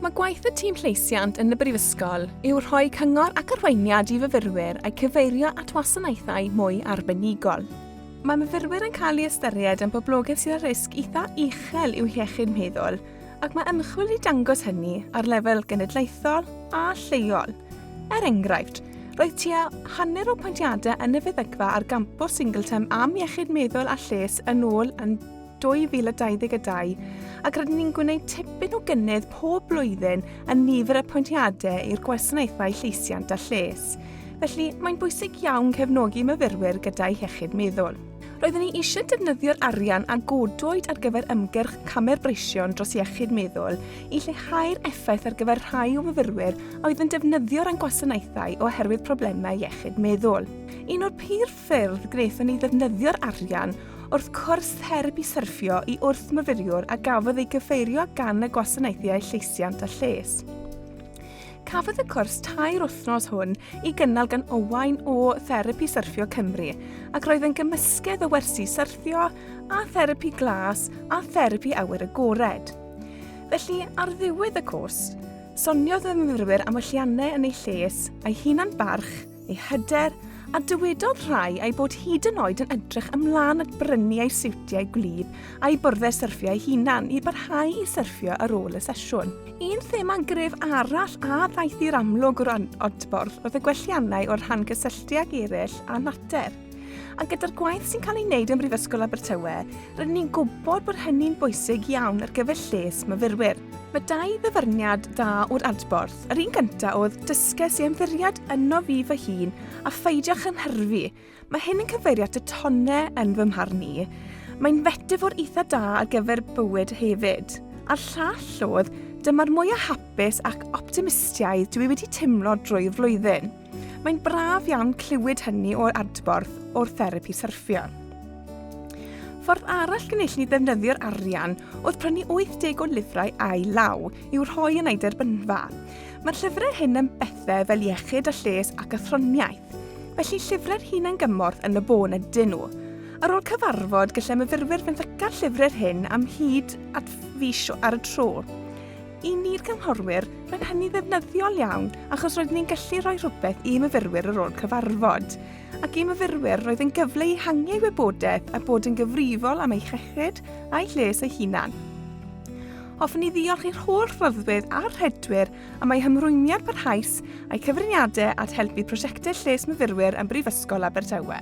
Mae gwaith y tîm llesiant yn y Brifysgol yw rhoi cyngor ac arweiniad i fyfyrwyr a'u cyfeirio at wasanaethau mwy arbenigol. Mae myfyrwyr yn cael ei ystyried yn boblogaeth sydd â risg eitha uchel i'w hiechyd meddwl ac mae ymchwil wedi dangos hynny ar lefel genedlaethol a lleol. Er enghraifft, roedd tua hanner o pwyntiadau yn y feddygfa ar gampws Singleton am iechyd meddwl a lles yn ôl yn 2022, ac rydyn ni'n gwneud tipyn o gynnydd pob blwyddyn yn nifer y pwyntiadau i'r gwasanaethau lleisiant a lles. Felly, mae'n bwysig iawn cefnogi myfyrwyr gyda'u hiechyd meddwl. Roeddwn ni eisiau defnyddio'r arian a godwyd ar gyfer ymgyrch Camer Breision dros Iechyd Meddwl i lleihau'r effaith ar gyfer rhai o fyfyrwyr a oedd yn defnyddio'r ein gwasanaethau oherwydd problemau iechyd meddwl. Un o'r pir ffyrdd gref yn ei ddefnyddio'r arian wrth cwrs therapi syrffio i wrthmyfyriwr a gafodd ei gyfeirio gan y Gwasanaethau Llesiant a Lles. Cafodd y cwrs tair wythnos hwn i gynnal gan Owain o Therapi Syrffio Cymru ac roedd yn gymysgedd o wersi syrffio a therapi glas a therapi awyr agored. Felly, ar ddiwedd y cwrs, soniodd y myfyrwyr am welliannau yn ei lles a'i hunan barch ei hyder, a dywedodd rhai ei bod hyd yn oed yn edrych ymlaen at brynu ei siwtiau gwlyb a'i byrddau syrffio ei hunan i barhau i syrffio ar ôl y sesiwn. Un thema gref arall a ddaeth i'r amlwg o'r adborth oedd y gwelliannau o'r rhan gysylltu ag eraill a natur. A gyda'r gwaith sy'n cael ei wneud ym Mhrifysgol Abertawe, rydyn ni'n gwybod bod hynny'n bwysig iawn ar gyfer lles myfyrwyr. Mae dau ddyfyniad dda o'r adborth. Yr un gyntaf oedd, dysges i ymddiried yno fi fy hun a pheidio chynhyrfu. Mae hyn yn cyfeirio at y tonnau yn fy mharn i. Mae'n fetafor eitha da ar gyfer bywyd hefyd. A'r llall oedd, dyma'r mwyaf hapus ac optimistiaidd dwi wedi teimlo drwy'r flwyddyn. Mae'n braf iawn clywed hynny o'r adborth o'r therapi syrffio. Ffordd arall gynullu ni ddefnyddio'r arian oedd prynu 80 o lyfrau a'i law i'w rhoi yn ei derbynfa. Mae'r llyfrau hyn yn bethau fel iechyd a lles ac athroniaeth, felly llyfrau'r hunain gymorth yn y bôn ydyn nhw. Ar ôl cyfarfod, gallai myfyrwyr fynd ac ar llyfrau'r hyn am hyd at fis ar y tro. I ni'r cynghorwyr, mae'n hynny ddefnyddiol iawn achos roeddwn ni'n gallu rhoi rhywbeth i myfyrwyr ar ôl cyfarfod. Ac i myfyrwyr, roedd yn gyfle i hangiau wybodaeth a bod yn gyfrifol am eu chechyd a'u lles eu hunan. Hoffwn ni ddiolch i'r holl rhyddwydd a'r rhedwyr am eu hymrwymiad parhaus a'i cyfriniadau at helpu prosiectau lles myfyrwyr yn Brifysgol Abertawe.